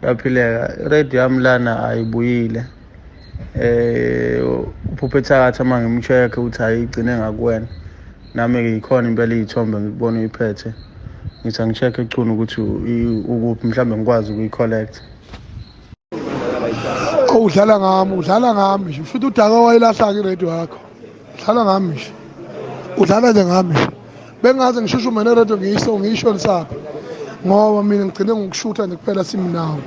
yaphileka radio yami lana ayibuyile eh uphuphe thakathi uma ngimcheck ukuthi ayigcine ngakuwena nami ke yikhona impela izithombe ngikubona uyiphethe ngithi angicheck ecunu ukuthi ukuphi mhlawumbe ngikwazi ukuyicollect oh udlala ngami udlala ngami nje futhi udaka wayilahla-ke iradio yakho dlala ngami nje udlala nje ngami nje bengaze ngishushume neredo ngiyiso ngiyisho lisaphi ngoba mina ngigcine ngokushutha nje kuphela simnawo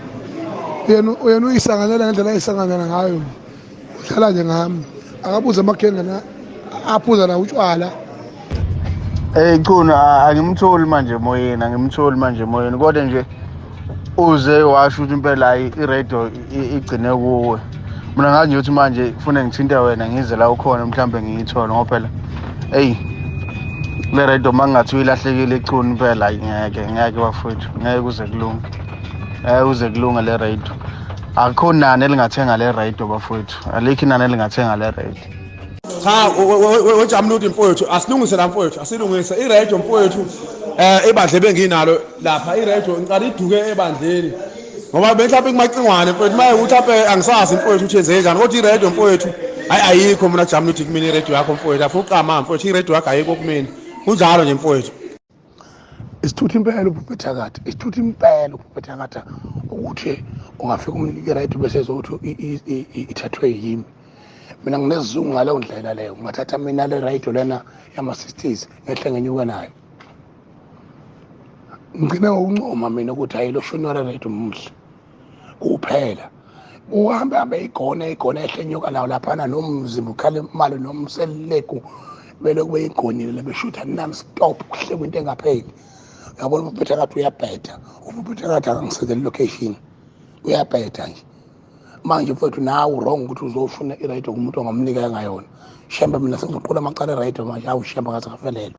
yena yena uyisanganela ngendlela ayisanganela ngayo udlala nje ngami akabuze amakhenge na aphuza na utshwala Hey Chunu angimtholi manje emoyeni angimtholi manje emoyeni kodwa nje uze washo ukuthi impela hayi iradio igcine kuwe mina ngazi nje ukuthi manje kufune ngithinte wena ngize la ukhona mhlawumbe ngiyithole ngoba phela eyi le radio uma ngingathi uyilahlekile echuni impela hayi ngeke ngeke bafowethu ngeke kuze kulunge ngeke kuze kulunge le radio akukho nani elingathenga le radio bafowethu alikho inani elingathenga le radio cha wejamuluti mfowethu asilungise la mfowethu asilungise iredio mfowethu um eh, ibandla ebenginalo lapha iredio ngiqala iduke ebandleni ngoba benhlawumbe kumacingwane mfowethu maye ukuthi ape angisazi mfowethu ukuthi enzeke njani kodwa iredio mfowethu hayi ayikho mina jamuluti kumina iredio yakho mfowethu afuqama mfowethu iredio yakho ayikho kumina kunjalo nje mfowethu isithuthi impela ubhubhethakade isithuthi impela ubhubhethakade ukuthi ungafika umnike right bese ezokuthi ithathwe yimi mina nginesizungu ngaleyo ndlela leyo ngingathatha mina le right lena yama-sixties ngehle ngenyuke nayo ngigcine ngokuncoma mina ukuthi hhayi lo shonora right muhle kuphela uhambe hambe igona igona ehlenyuka nawo laphana nomzimba ukhale imali nomseleku belokhu beyigonile lebeshutha non stop kuhlekwa into engapheli yabona umphetha kathi uyabheda umphetha kathi akangisekeli location uyabheda nje manje mfethu nawe wrong ukuthi uzofuna iradio kumuntu ongamnika engayona shembe mina sengizoqula amacala eradio manje awu shembe ngathi ngafelelwa